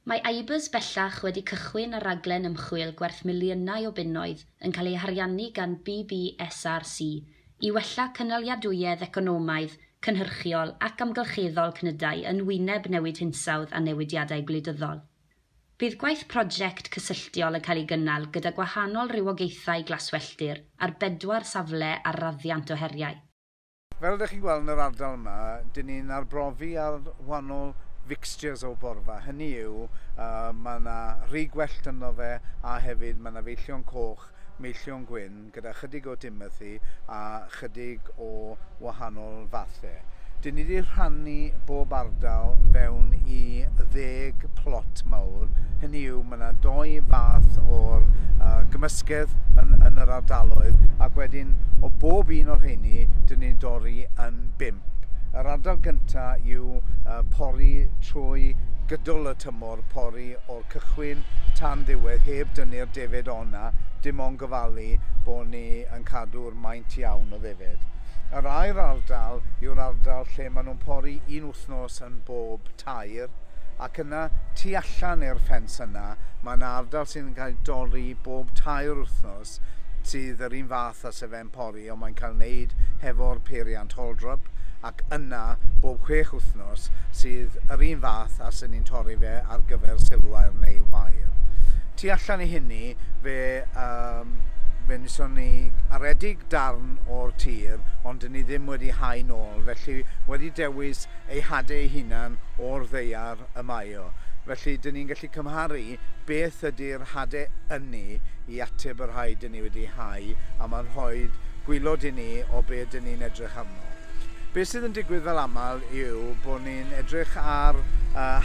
Mae ABUS bellach wedi cychwyn ar raglen ymchwil gwerth miliynau o bunnoedd yn cael ei hariannu gan BBSRC i wella cynaliadwyedd economaidd, cynhyrchiol ac amgylcheddol cnydau yn wyneb newid hinsawdd a newidiadau gwleidyddol. Bydd gwaith prosiect cysylltiol yn cael ei gynnal gyda gwahanol rywogaethau glaswelltir ar bedwar safle ar raddiant o heriau. Fel ydych chi'n gweld yn yr ardal yma, dyn ni'n arbrofi ar wahanol fixtures o borfa. Hynny yw, uh, mae yna rhy gwellt ynddo fe, a hefyd mae yna feillion coch, meillion gwyn, gyda chydig o Timothy a chydig o wahanol fathau. Dyn ni wedi rhannu bob ardal fewn i ddeg plot mawr, hynny yw, Mae yna doi fath o'r uh, gymysgedd yn, yn yr ardaloedd ac wedyn o bob un o'r rheini dyn ni'n dorri yn bimp. Yr ardal gyntaf yw uh, pori trwy gydol y tymor, pori o'r cychwyn tan ddiwedd heb dynnu'r defed o'na, dim ond gofalu bod ni yn cadw'r maint iawn o ddefed. Yr air ardal yw'r ardal lle maen nhw'n pori un wythnos yn bob tair ac yna tu allan i'r ffens yna mae 'na ardal sydd yn cael ei dorri bob tair wythnos sydd yr un fath â Sir Fenpori ond mae'n cael ei wneud hefo'r peiriant Holdrup ac yna bob chwech wythnos sydd yr un fath a sy'n ni'n torri fe ar gyfer silwair neu wair. Tu allan i hynny fe um, fe wnaethon ni aredig darn o'r tir ond dyn ni ddim wedi hau nôl felly wedi dewis ei hade ei hunan o'r ddaear y mae o. Felly, dŷn ni'n gallu cymharu beth ydy'r hade ynni i ateb y rhai dŷn ni wedi hau, a mae'n rhoi gwylod i ni o be dŷn ni'n edrych arno. Be sydd yn digwydd fel aml yw bod ni'n edrych ar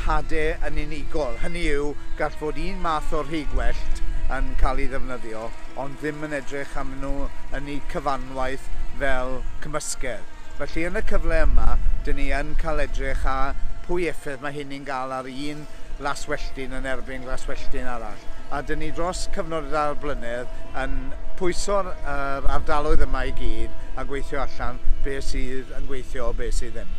hade yn unigol, hynny yw, gall fod un math o rhigwellt yn cael ei ddefnyddio, ond ddim yn edrych arnyn nhw yn eu cyfanwaith fel cymysgedd. Felly yn y cyfle yma, dyn ni yn cael edrych ar pwy effaith mae hynny'n gael ar un laswelltyn yn erbyn glaswelltyn arall. A dyn ni dros cyfnod y dair blynedd yn pwyso'r yr ardaloedd yma i gyd a gweithio allan be' sydd yn gweithio a be' sydd ddim.